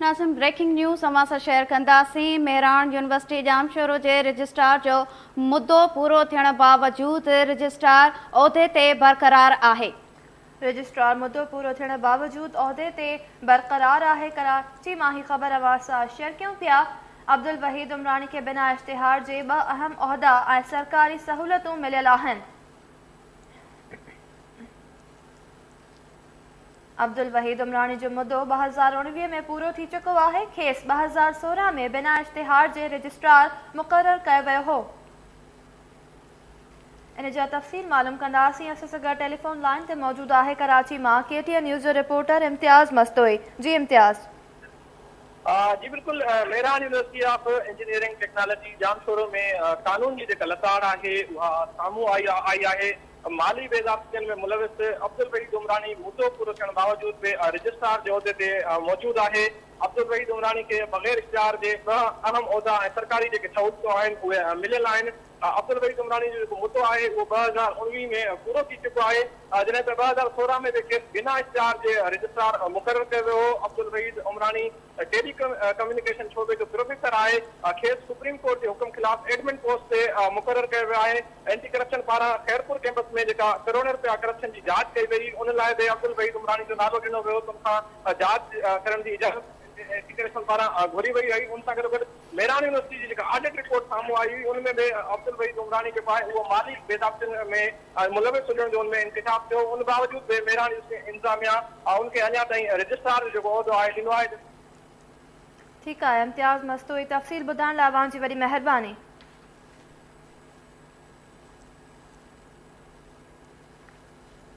ناظرين breaking news اوهان سان شيئر ڪنداسين مهراڻ يونيورسٽي ڄامشورو جي رجسٽرار جو مدو پورو ٿيڻ باوجود رجسٽرار عهدي تي برقرار آهي. رجسٽرار مدو پورو ٿيڻ باوجود عهدي تي برقرار آهي ڪراچي مان هي خبر اوهان سان شيئر ڪيون پيا عبدالوحيد عمراڻي کي بنا اشتهار جي ٻه اهم عهدا ۽ سرڪاري سهولتون مليل آهن. عبدالوحيد عمراڻي جو مدو ٻه هزار اڻويهه ۾ پورو ٿي چڪو آهي، کيس ٻه هزار سورهن ۾ بنا اشتهار جي رجسٽرار مقرر ڪيو ويو هو. ان جا تفصيل معلوم ڪنداسين اسان سان گڏ ٽيليفون لائين تي موجود آهي ڪراچي مان ڪي ٽي اين نيوز جو رپورٽر امتياز مستوئي جي امتياز. جي بلڪل Mehran university of engineering technology Jamshoro ۾ قانون جي جيڪا لتاڙ آهي اها سامهون آئي آهي مالي بي ضابطين ۾ ملوث عبدالوحيد عمراڻي مدو پورو ٿيڻ باوجود به رجسٽرار جي عهدي تي موجود آهي، عبدالوحيد عمراڻي کي بغير اشتهار جي ڏهه اهم عهدا ۽ سرڪاري جيڪي سهولتون آهن اهي مليل آهن، عبدالوحيد عمراڻي جو جيڪو مدو آهي اهو ٻه هزار اڻويهه ۾ پورو ٿي چڪو آهي، جڏهن ته ٻه هزار سورهن ۾ به کيس بنا اشتهار جي رجسٽرار مقرر ڪيو ويو هو، عبدالوحيد عمراڻي. ٽيلي ڪميونيڪيشن شعبي جو پروفيسر آهي، کيس سپريم ڪورٽ جي حڪم خلاف ايڊمن پوسٽ تي مقرر ڪيو ويو آهي، اينٽي ڪرپشن پاران خيرپور ڪيمپس ۾ جيڪا ڪروڙين رپيا ڪرپشن جي جاچ ڪئي وئي ان لاء به عبدالوحيد عمراڻي جو نالو ڏنو ويو ته ان کان جاچ ڪرڻ جي اجازت اينٽي ڪرپشن پاران گهري وئي هئي، ان سان گڏوگڏ ميران يونيورسٽي جي جيڪا آڊٽ رپورٽ سامهون آئي هئي ان ۾ به عبدالوحيد عمراڻي جيڪو آهي اهو مالي بيضابطين ۾ ۽ ملوث هجڻ جو ان ۾ انڪشاف ٿيو، ان باوجود به ميراڻي اسٽيشن انتظاميا ان کي اڃا تائين رجسٽرار جو جيڪو عهدو آهي ڏنو آهي. ٺيڪ آهي امتياز مستوئي تفصيل ٻڌائڻ لاء اوهان جي وڏي مهرباني.